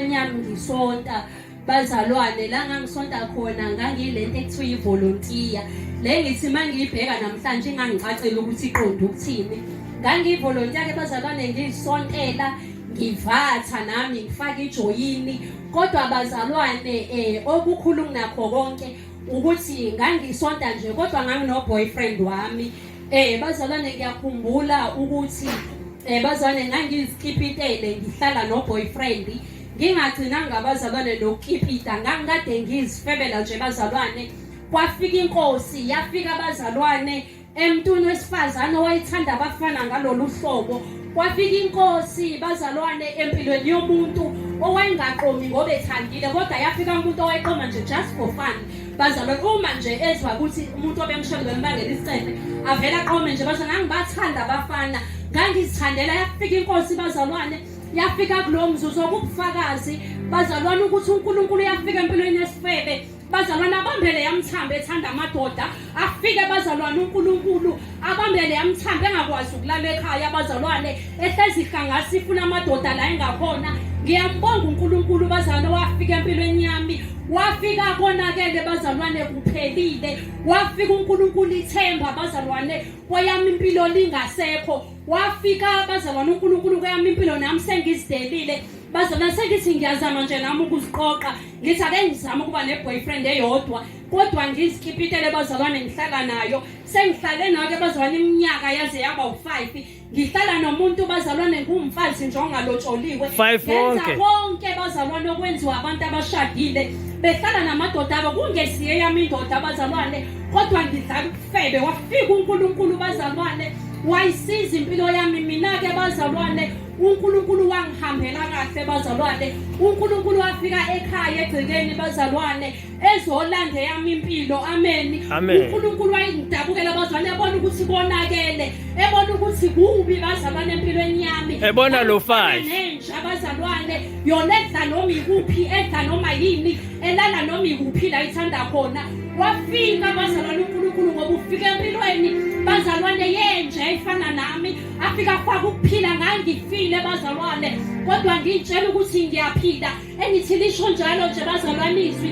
Enyami ngisonta bazalwane la ngangisonta khona ngangilento ekuthiwa ivolontiya le ngithi uma ngiyibheka namhlanje ingangicacela ukuthi iqonde ukuthini ngangiyivolontiya ke bazalwane ngiyisontela ngivatha nami ngifake ijoyini kodwa bazalwane um okukhulu kunakho konke ukuthi ngangisonta nje kodwa nganginoboyfriend wami eh bazalwane ngiyakhumbula ukuthi eh bazalwane ngangizikipitele ngihlala noboyfriend ngingagcinanga abazalwane nokukipita ngangikade ngizifebela nje bazalwane kwafika inkosi yafika abazalwane Emntwini wesifazane owayethanda abafana ngalolu hlobo kwafika inkosi bazalwane empilweni yomuntu owayengaqomi ngoba ethandile kodwa yafika umuntu owayeqoma nje just for fun bazalwane uma nje ezwa ukuthi umuntu obemshonda bembangela isicebe avele aqome nje bazalwane angibathanda abafana ngangizithandela yafika inkosi bazalwane yafika kulo mzuzu okubufakazi bazalwane ukuthi unkulunkulu yafika empilweni yesifebe Bazalwane abambele yamthamba ethanda amadoda afike bazalwane uNkulunkulu abambele yamthamba engakwazi ukulala ekhaya bazalwane ehlezi ihlangasi ifuna amadoda la engakhona ngiyambonga uNkulunkulu bazalwane wafika empilweni yami wafika konakele bazalwane kuphelile wafika uNkulunkulu ithemba bazalwane kweyami impilo lingasekho wafika bazalwane uNkulunkulu kweyami impilo nami sengizidelile bazalwane sengithi ngiyazama nje nami ukuziqoqa ngithi ake ngizame ukuba ne-boyfriend eyodwa kodwa ngizikipitele bazalwane ngihlala nayo sengihlale nayo ke bazalwane iminyaka yaze yaba u-five ngihlala nomuntu bazalwane ngumfazi nje ongalotsholiwe ngenza konke bazalwane okwenziwa abantu abashadile behlala namadoda abo kungesiye yami indoda bazalwane kodwa ngidlala ubufebe wafika unkulunkulu bazalwane wayisiza impilo yami mina-ke bazalwane uNkulunkulu wangihambela kahle bazalwane uNkulunkulu wafika ekhaya egcekeni bazalwane ezolanda yami impilo ameni uNkulunkulu wayengidabukela bazalwane ebona ukuthi konakele ebona ukuthi kubi bazalwane empilweni yami ebona lo five nenja bazalwane yona edla noma ikuphi edla noma yini elala noma ikuphi la ithanda khona wafika bazalwane uNkulunkulu ngoba ufika empilweni bazalwane yenja efana nami afika faka ukuphila ngangifile bazalwane kodwa ngitshela ukuthi ngiyaphila engithi lisho njalo nje bazalwane izwi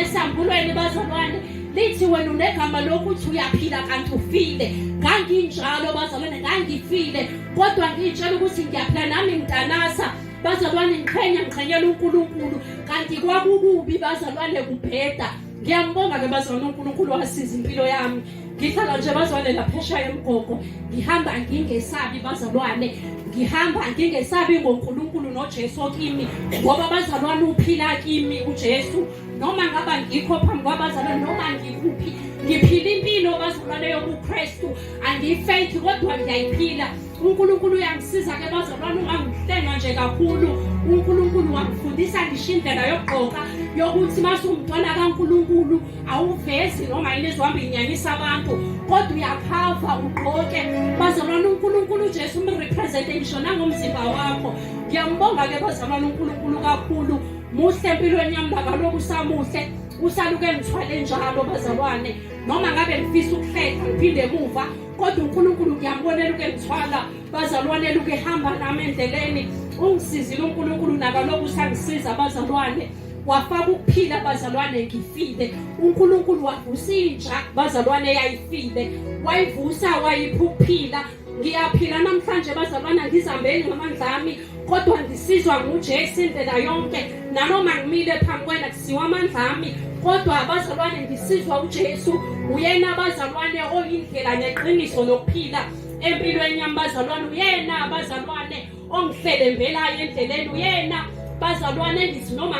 esambulweni bazalwane lithi wena unegama lokuthi uyaphila kanti ufile nganginjalo bazalwane ngangifile kodwa ngitshela ukuthi ngiyaphila nami ngidanasa bazalwane ngiqhenya ngiqhenyela unkulunkulu kanti kwakukubi bazalwane kubheda ngiyambonga ke bazwana unkulunkulu wasiza impilo yami ngihlala nje bazwane laphesha yemgogo ngihamba ngingesabi bazalwane ngihamba ngingesabi ngonkulunkulu nojesu kimi ngoba bazalwane uphila kimi ujesu noma ngaba ngikho phambi kwabazalwane noma ngikuphi ngiphila impilo bazalwane yobukristu angiyifethi kodwa ngiyayiphila uNkulunkulu uyangisiza ke bazalwane ungangihlenga nje kakhulu uNkulunkulu wangifundisa ngisho indlela yokugqoka yokuthi masungumntwana kaNkulunkulu awuvezi noma yini ezohamba inyanyisa abantu kodwa uyakhava ugqoke bazalwane uNkulunkulu uJesu umrepresente ngisho nangomzimba wakho ngiyambonga ke bazalwane uNkulunkulu kakhulu muhle empilweni yami bakalokhu usamuhle usaluke ngithwale njalo bazalwane noma ngabe ngifisa ukuhleka ngiphinde emuva kodwa uNkulunkulu ngiyambonela ukengithwala bazalwane luke hamba nami endleleni ungisizile uNkulunkulu nakaloku usangisiza bazalwane wafaka ukuphila bazalwane ngifile uNkulunkulu wavusa inja bazalwane yayifile wayivusa wayipha ukuphila ngiyaphila namhlanje bazalwana ngizambeni ngamandla ami kodwa ndisizwa ngujesu indlela yonke nanoma ngimile phambi kwena kusiwa amandla ami kodwa abazalwane ndisizwa ujesu uyena abazalwane oyindlela neqiniso nokuphila empilweni yami bazalwane uyena abazalwane ongihlelembelayo endleleni uyena bazalwane engithi noma